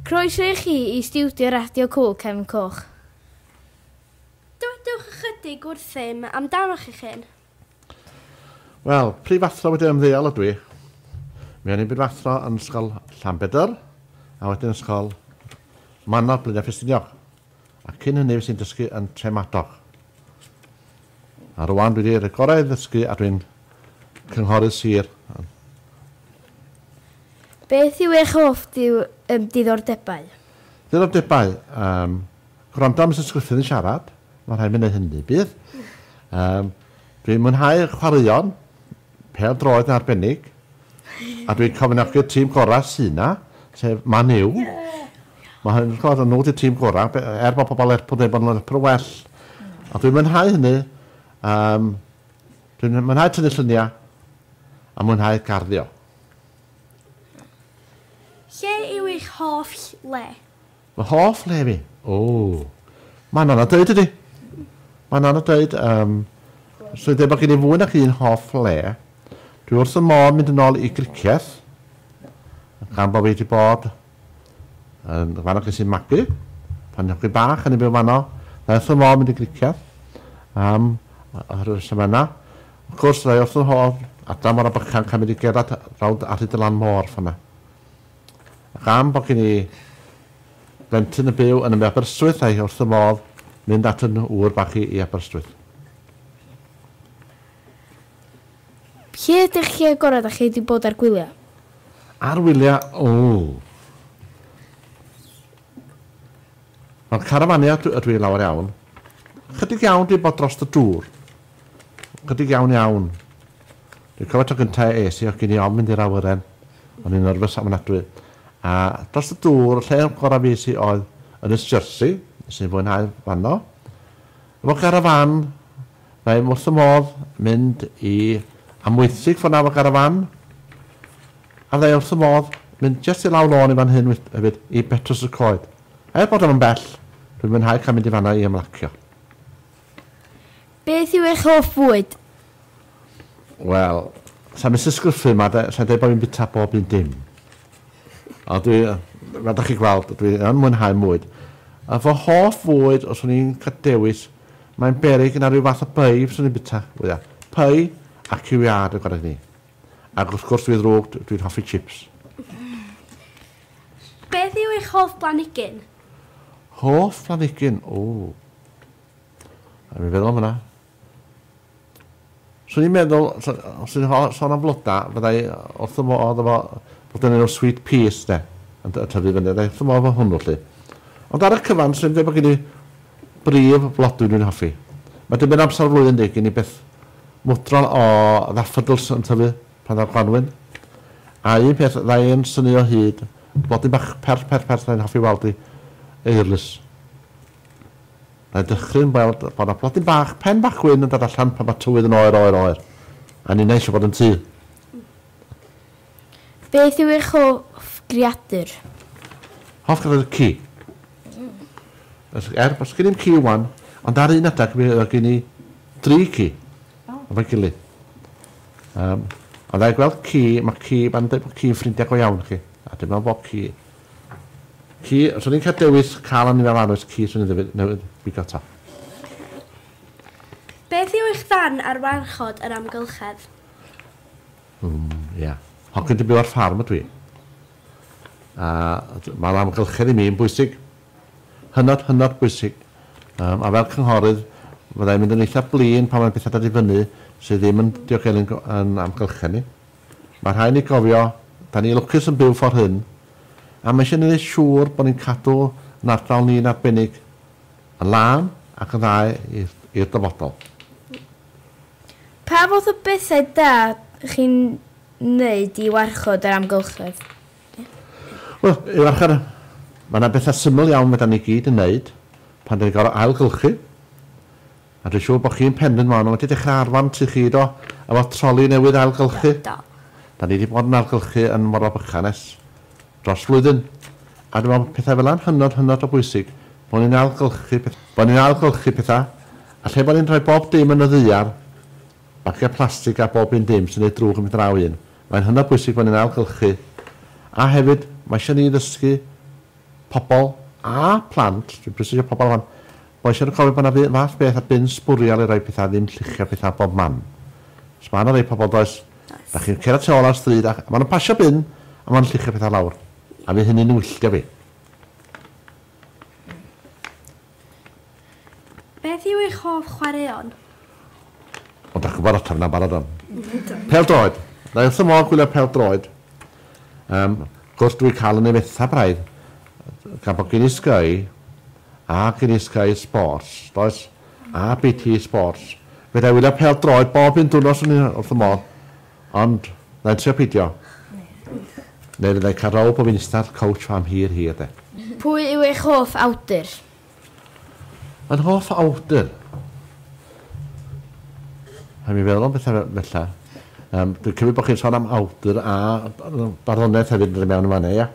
Croeso i chi i stiwdio Radio Cŵl Cefn Coch. Dywedwch ychydig wrthym amdanoch eich hun. Wel, prif athro wedi ymddeol ydw i. Mi o'n i'n brif-athro yn Ysgol Llanbedr a wedyn Ysgol Manor, Blaenau Ffestiniog. A cyn hynny fues i'n dysgu yn Tremadog. A rwan dwi wedi gorau ddysgu a dwi'n cynghorydd sir. Beth yw eich hoff diddordebau? Diddordebau? Yym, gwrando am Misus Gruffydd yn siarad. Mae'n rhaid mi wneud hynny, bydd. Yym, dwi'n mwynhau chwaraeon. Pêl-droed yn arbennig, a dwi'n cefnogi'r tîm gorau sy' 'na, sef Man U. Mae hyn yn sgôr yn nhw ydy'r tîm gorau, be- er bod pobl Lerpwl yn dweud bod nhw'n Lerpwl well. A dwi'n mwynhau hynny. Yym, dwi'n mwynhau tynnu lluniau a mwynhau garddio. Lle yw eich hoff le? Fy hoff le fi? O! Mae'n anodd dweud ydy. Mae'n anodd dweud. Um, so i bod gen i fwy nac un hoff le. Dwi wrth y môr mynd yn ôl i griceth. Gan bod fi wedi bod yn fanno ges i'n magu. Pan nhw'n bach yn ei byw fanno. Dda wrth y môr mynd i griceth. Um, oherwydd reswm yna. Wrth gwrs, dda wrth y môr. Adra mor a bychan cael mynd i gerdded rawd arhyd y lan môr fanna. Gan bod gen i blentyn yn byw yn y Aberystwyth a'i wrth fy modd mynd at yn ŵr bach hi i Aberystwyth. Lle ydych chi agored a chi di bod ar gwylia? Ar wylia ooh. Mewn carafania dw ydw i lawer iawn. Chydig iawn di bod drost y dŵr. Chydig iawn iawn. Dwi'n cofio tro gynta es i o'ch gin i ofn mynd i'r awyren. O'n i'n nyrfys ofnadwy. A dros y dŵr, y lle gorau fues i oedd Ynys Jersey, nes i fwynhau fanno. Efo garafan, mae wrth y modd mynd i Amwythig ffordd 'na efo garafan. A fydda i wrth y modd mynd jyst i lawr lôn i fan hyn hefyd, i Betws y Coed. Heb fod yn bell, dwi'n mwynhau cael mynd i fanno i ymlacio. Beth yw eich hoff fwyd? Wel, sa i'n Misus Gruffydd 'ma de, sa i'n deud bo' fi'n bita bob un dim. Ond dwi, fel dach chi'n gweld, dwi yn mwynhau mwyd. A fy hoff fwyd, os o'n i'n cael dewis, mae'n beryg na rhyw fath o pei fyswn i'n bita fwya. Pei a ciw iâd yn gwareg ni. Ac wrth gwrs dwi ddrwg, dwi'n hoffi chips. Beth yw eich hoff blanhigyn? Hoff planhigyn? Ww. Rhaid mi feddwl am hwnna. Swn i'n meddwl, os ydych chi'n sôn am floda, fyddai wrth y modd efo bod yn enw sweet peas, de, yn tyfu fyny, fyddai wrth y modd efo hwnnw, lly. Ond ar y cyfan, swn i'n dweud bod gen i brif flodwy dwi'n hoffi. Mae dibyn amser o'r flwyddyn, de, gen i beth mwdrol o ddaffodils yn tyfu Pan ddaw'r gwanwyn, a un peth fydda i yn synnu o hyd, blodyn bach perth perth perth fydda i'n hoffi weld i eirlys. Fydda i'n dychryn weld bod yna blodyn bach, pen bach gwyn yn dod allan pan mae tywydd yn oer, oer, oer. A ninnau eisiau bod yn tŷ. Beth yw eich hoff greadur? Hoff greadur ci. Er bod gen i'm ci 'wan, ond ar un adeg mi oedd gen i dri ci. O. Efo'i gilydd. Yym, a dda i gweld ci, mae ci, mae'n dweud bod ci'n ffrindiau go iawn chi, a dwi'n meddwl bod ci. Ci, os o'n i'n cael dewis cael anifail arall oes ci swn i'n ddeud newid bigo to. Beth yw eich farn ar warchod yr amgylchedd? Mm, ia. Yeah. Hogyn di byw ar ffarm ydw i. A mae'r amgylchedd i mi yn bwysig. Hynod, hynod bwysig. Yym, a fel cynghorydd, fydda i'n mynd yn eitha blin pan mae'n pethau dod i fyny sydd ddim yn diogelu'n go- yn amgylchedd ni. Mae rhaid ni gofio, 'da ni lwcus yn byw ffor' hyn, a mae eisiau ni wneud siŵr bod ni'n cadw yn ardal ni'n arbennig yn lân ac yn dda i'r i'r dyfodol. Pa fath o bethau da chi'n wneud i warchod yr amgylchedd? Wel, i warchod, mae yna bethau syml iawn fedra ni gyd yn wneud pan dan ni'n gorfod ailgylchu. A dwi'n siŵr bod chi'n Pendant Mono wedi dechrau arfan tŷ chi, do? Efo troli newydd ailgylchu. Do, do. Dan ni wedi bod yn ailgylchu yn Morfa Bychan ers dros flwyddyn. A dwi'n meddwl bod pethau fel yna'n hynod, hynod o bwysig, bod ni'n ailgylchu pethau. Bod ni'n ailgylchu pethau, a lle bod ni'n rhoi bob dim yn y ddaear, bagiau plastig a bob un dim sy'n wneud drwg yn mynd draw un. Mae'n hynod bwysig bod ni'n ailgylchu a hefyd mae eisiau ni ddysgu pobl a phlant, dwi'n presygio pobl a phlant, bod eisiau nhw cofio bod yna fu- fath beth a bin sbwriel i roi pethau ddim lluchio pethau bob man. Os mae yna rei pobl does, Does. da chi'n cerdded tu ôl ar stryd a maen nhw'n pasio bin a maen nhw'n lluchio pethau lawr a fydd hynny'n wylltio fi. Beth yw eich hoff chwaraeon? Ond dach chi'n gwybod ateb yna'n barod am. Pel droed. Na i wrth fy modd gwylio pel droed. Um, gwrs dwi'n cael yn ei fetha braidd gan bod gen i Sky a gen i Sky Sports, does? A BT Sports. Fe da i wylio pel droed bob un dwrnos yn wrth fy modd. Ond, na i'n trio pidio. Neu fydda i'n cael row pob un ystafell couch am hir hir de. Pwy yw eich hoff awdur? Yn hoff awdur? Rhaid mi feddwl am bethau fe- fella. Yym, dwi'n cymryd bod chi'n sôn am awdur a b- barddoniaeth hefyd yn dod i mewn yn fan 'na, ia?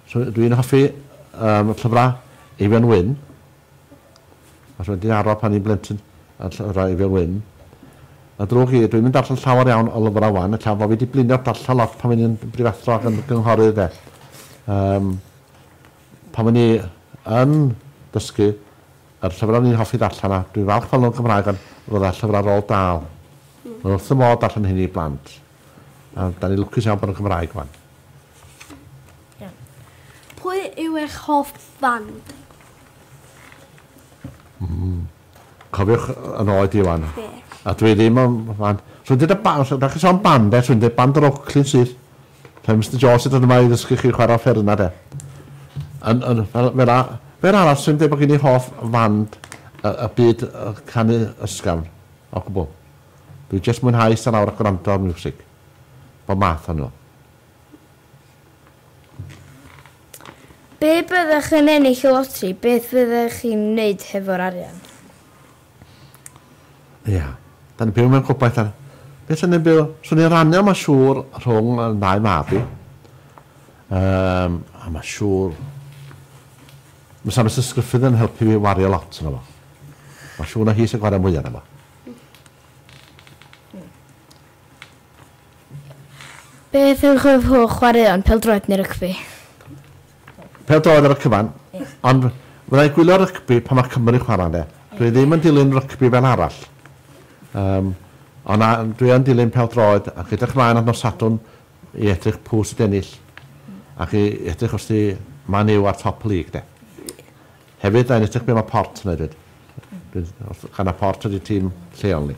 So, dwi'n hoffi yym, llyfrau Eifion Wyn, Os mae di aral pan i'n blentyn a llyfrau i Wil Wyn. Mae'n ddrwg i, dwi'm yn darllen llawer iawn o lyfrau 'wan, ella fo fi di blino darllen lot pan o'n i'n brifathro ac yn gynghorydd de. Yym pan o'n i yn dysgu yr llyfrau o'n i'n hoffi ddarllen a dwi'n falch fel o'n Gymraeg ond roedd llyfrau Roald Dahl. Mae wrth y modd darllen hyn i blant. A da ni lwcus iawn bod o'n Gymraeg 'wan. Iawn. Pwy yw eich hoff fand? Mm. Cofiwch yn oed i wan. A dwi ddim yn fan. Rwy'n dweud y band, da chi sôn band e, rwy'n dweud band yr Oakley sydd. Rhaid Mr Jones sydd yma i ddysgu chi chwarae fferna de. Yn, yn, fel, fel, a, fel arall, rwy'n dweud bod gen i hoff fand y, y byd y canu ysgafn, o gwbl. Dwi'n just mwynhau eistedd lawr a gwrando ar music. Bob math o'n nhw. Pe byddech yn ennill y loteri, beth fyddech chi'n wneud hefo'r arian? Ia, da ni'n byw mewn gobaith ar... Be swn i'n byw? Swn i'n rannu o ma siŵr rhwng y ddau mab i. Um, a ma siŵr... Mae Sam Mrs Griffith yn helpu fi wario lot yna fo. Mae siŵr na hi sy'n gwario mwy yna fo. Beth yw eich hoff chwaraeon, pêl-droed neu rygbi? Pêl-droed ar y cyfan, ond fydda i'n gwylio rygbi pan mae Cymru'n chwarae ynde. Dwi ddim yn dilyn rygbi fel arall. Yym, ond na, dwi yn dilyn pêl-droed ac edrych ymlaen at nos Sadwrn i edrych pw sy'n ennill ac i edrych os 'di Man U ar top y lig 'de. Hefyd, da ni'n edrych be mae Port yn wneud 'fyd. Gan na Port ydi tîm lleol ni.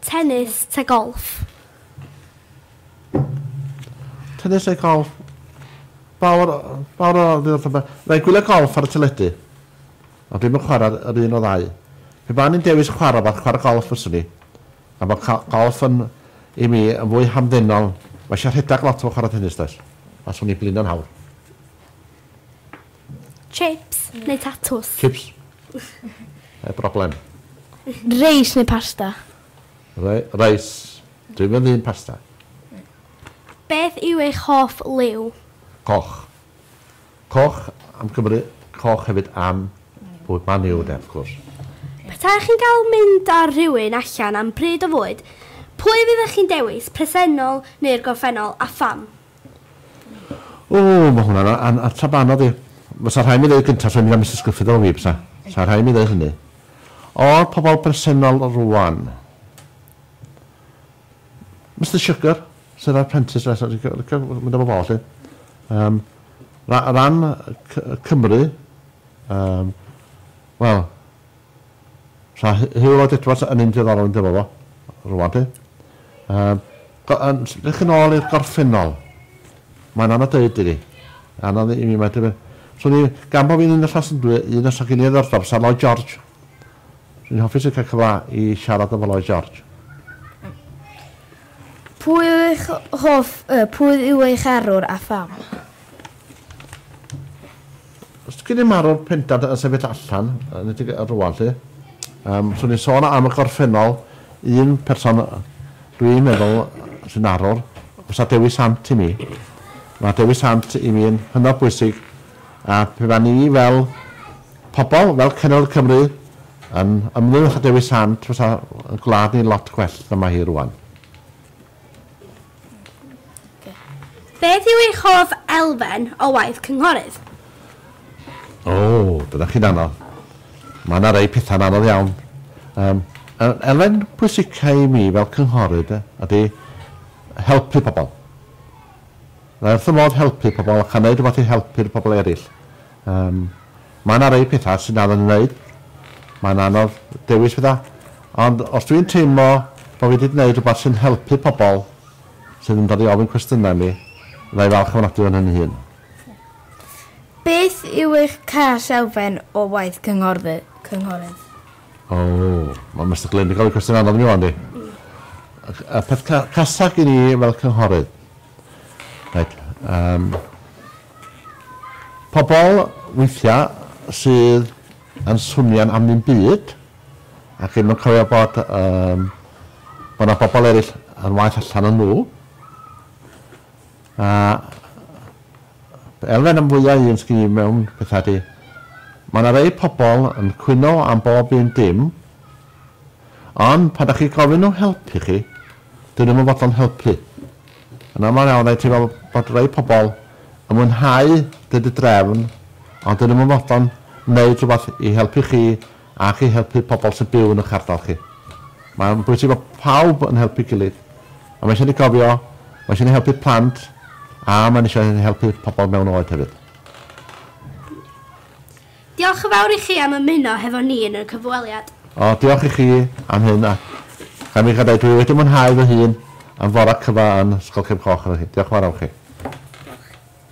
Tennis ta golff? Tennis neu golff? Fawr, fawr o ddiolch yma. Mae'n gwylio golff ar y teledu. Ond dwi'n mynd chwarae yr un o ddau. Pe ba'n i'n dewis chwarae fath chwarae golff fyswn i. Gan bod golff yn, i mi, yn fwy hamddenol. Mae eisiau rhedeg lot fel chwarae tennis does? Faswn i'n blino'n hawdd. Chips neu tatws? Chips. Heb broblem. Reis neu pasta? Re reis. Dwi'm yn ddyn pasta. Beth yw eich hoff liw? Coch. Coch am Cymru, coch hefyd am bwyd, Man U de, of course. Petaech chi'n cael mynd â rhywun allan am bryd o fwyd, pwy fyddech chi'n dewis, presennol neu'r gorffennol, a pham? O, mae hwnna'n a- an- ateb anodd i. Fysa rhaid mi ddeud gyntaf, swn i'n mynd am Misus Gruffydd efo fi, bysa. Fysa rhaid mi ddeud hynny. O'r pobl bresennol rwan. Mister Sugar, sydd ar Prentice, reit, reit, reit, reit, mynd efo fo, lle. Um, ra, ran C Cymru, um, wel, Sa Huw Lloyd Edwards yn un diddorol yn dyfo fo, rwan ti. Um, yn ddech yn ôl i'r gorffennol. Mae'n anodd dweud i fi. Anodd i mi, mae ti... So ni, gan bod fi'n un o llas yn dwi, un o sogyn i ddordor, sa Lloyd George. So ni'n hoffi sy'n cael cyfla i siarad efo Lloyd George. Pwy yw eich hoff, uh, pwy yw eich arwr a pham? Os dych chi wedi marw'r pendant yn sefyll allan, yn y tig rwan lly, um, swn i'n sôn am y gorffennol, un person dwi'n meddwl sy'n arwr, os a Dewi Sant i mi. Mae Dewi Sant i mi yn hynod bwysig, a pe fan ni fel pobl, fel Cenedl Cymru, yn ymwneud â Dewi Sant, fysa y gwlad ni'n lot gwell na mae hi rwan. Beth yw eich hoff elfen o waith cynghorydd? O, dyna chi'n anodd. Mae yna rei pethau'n anodd iawn. Um, elfen pwysicau i mi fel cynghorydd ydy helpu pobl. Mae wrth y modd helpu pobl ac a wneud rhywbeth i helpu'r pobl eraill. Yym, mae 'na rei petha sy'n anodd i wneud. Mae'n anodd dewis petha. Ond os dwi'n teimlo bod fi 'di gwneud rhywbeth sy'n helpu pobl sydd yn dod i ofyn cwestiynau i mi, fydda i falch ofnadwy o'n hyn fy hun. Beth yw eich cais elfen o waith cynghorydd? O, mae Mister Glyn 'di gofyn cwestiwn anodd i mi ŵan 'di. Y peth ca- casa gin i fel cynghorydd Right. Um, pobl weithiau sydd yn swnio'n am ddim byd ac ddim yn cofio bod um, bod yna bobl eraill yn waith allan yn nhw. A elfen am fwyaf un sgyn i mewn pethau di. Mae yna rei pobl yn cwyno am bob un dim Ond pan dach chi'n gofyn nhw helpu chi, dyn nhw'm yn fodlon helpu. Yn aml iawn rhaid teimlo bod rhai pobl yn mwynhau dweud y drefn, ond dyn nhw'm yn fodlon wneud rhywbeth i helpu chi ac i helpu pobl sy'n byw yn eich ardal chi. Mae'n bwysig bod pawb yn helpu'i gilydd, a mae eisiau ni gofio, mae eisiau ni helpu plant, a mae'n eisiau ni helpu pobl mewn oed hefyd. Diolch yn fawr i chi am ymuno hefo ni yn y cyfweliad. O, diolch i chi am hyn, a cha mi gadai, dwi wedi mwynhau fy hun am fora cyfa yn Ysgol Cefn Coch efo hi. Diolch yn fawr iawn chi. Diolch.